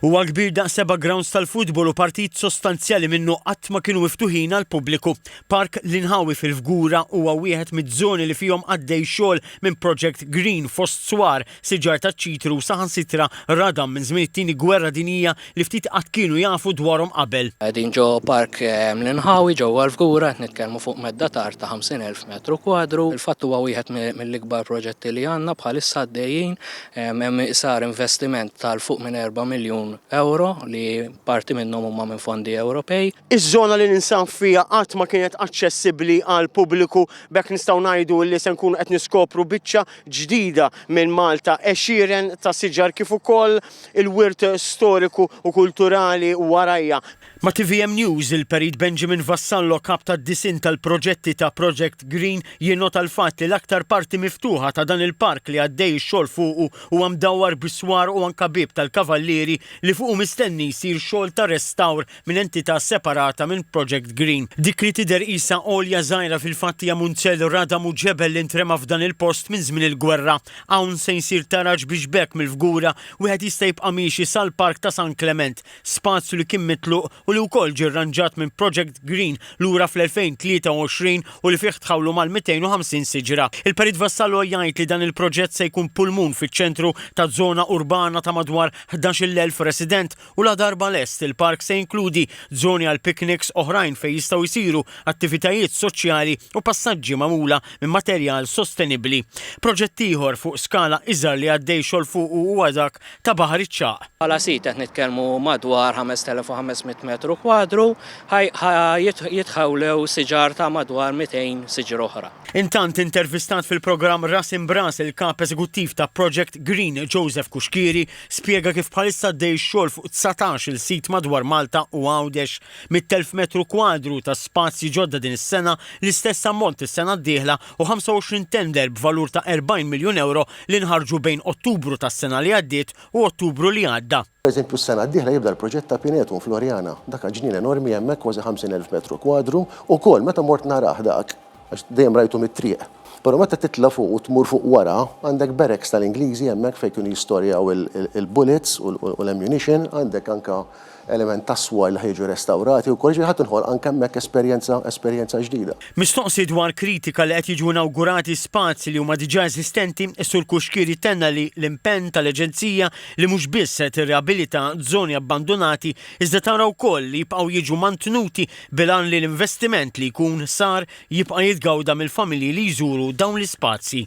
Huwa kbir daqs seba' grawnds tal-futbol u partit sostanzjali minnu qatt ma kienu miftuħin għall-pubbliku. Park l-Inħawi fil-Fgura huwa wieħed miz-zoni li fihom għaddej xogħol minn project green fost swar, siġar taċ-ċitru u saħansitra radam minn żmien it-Tieni Gwerra Dinjija li ftit qatt kienu jafu dwarhom qabel. Qegħdin ġo Park l-Inħawi ġewwa l-Fgura qed nitkellmu fuq medda ta' art ta' 50,000 metru kwadru. Fil-fatt huwa wieħed mill-ikbar proġetti li għandna bħalissa għaddejjin. Hemm sar investiment ta' 'l fuq minn erba' miljun ewro li parti minnhom huma minn fondi Ewropej. Iż-żona li ninsab fiha qatt ma kienet aċċessibbli għall-pubbliku, b'hekk nistgħu ngħidu li se nkunu qed niskopru biċċa ġdida minn Malta, għexieren ta' siġar kif ukoll il-wirt storiku u kulturali warajha. Ma' tvm News, il-Perit Benjamin Vassallo, Kap tad-Disinn tal-Proġetti ta' Project Green, jinnota l-fatt li l-aktar parti miftuħa ta' dan il-park li għaddej ix-xogħol fuqu huwa mdawwar bis-swar u anke Bieb tal-Kavallieri li fuqu mistenni jsir xogħol ta' restawr minn entità separata minn Project Green. Dik li tidher qisha għolja żgħira fil-fatt hija munzell radam u ġebel li ntrema f'dan il-post minn żmien il-gwerra. Hawn se jsir taraġ biex b'hekk mill-fgura wieħed jista' jibqa' miexi sal-Park ta' San Klement. spazju li kien mitluq u li wkoll ġie rranġat minn Project Green lura fl-2023 u li fih tħawlu mal-250 siġra. Il-Perit Vassallo jgħid li dan il-proġett se jkun pulmun fiċ-ċentru ta' żona urbana ta' madwar 11-il elf resident u ladarba lest, il-park se jinkludi żoni għal pikniks oħrajn fejn jistgħu jsiru attivitajiet soċjali u passaġġi magħmula minn materjal sostenibbli. Proġett ieħor fuq skala iżgħar li għaddej xogħol fuqu huwa dak ta' Baħar iċ-Ċagħaq. Bħala sit qed nitkellmu madwar 5,500 metru kwadru, ħa jitħawlew siġar ta' madwar 200 siġra oħra. Intant, intervistat fil-programm Ras Imb'Ras il-Kap Eżekuttiv ta' Project Green Joseph Cuschieri spjega kif bħalissa għaddej ix-xogħol fuq dsatax-il sit madwar Malta u Għawdex. Mitt-elf metru kwadru ta' spazji ġodda din is-sena, l-istess ammont is-sena d-dieħla, u 25 tender b'valur ta' 40 miljun ewro li nħarġu bejn Ottubru tas-sena li għaddiet u Ottubru li għadda. Pereżempju s-sena d-dieħla jibda l-proġett ta' Pinetum f'Loriana. Dak aġnien enormi hemmhekk kważi 50,000 metru kwadru, ukoll meta mort narah dak, għax dejjem rajtu mit-triq, però meta titla' fuq u tmur fuq wara, għandek barracks tal-Ingliżi hemmhekk fejn kienu jistorjaw il-bullets u l-ammunition, għandek anke element tas-swar li ħa jiġu restawrati wkoll, jiġifieri ħa tinħolq anke hemmhekk esperjenza esperjenza ġdida. Mistoqsi dwar kritika li qed jiġu inawgurati spazji li huma diġà eżistenti, is-Sur Cuschieri tenna li l-impenn tal-Aġenzija li mhux biss se tirriabilita żoni abbandunati iżda tara wkoll li jibqgħu jiġu mantnuti bil-għan li l-investiment li jkun sar jibqa' jitgawda mill-familji li jżuru dawn l-ispazji.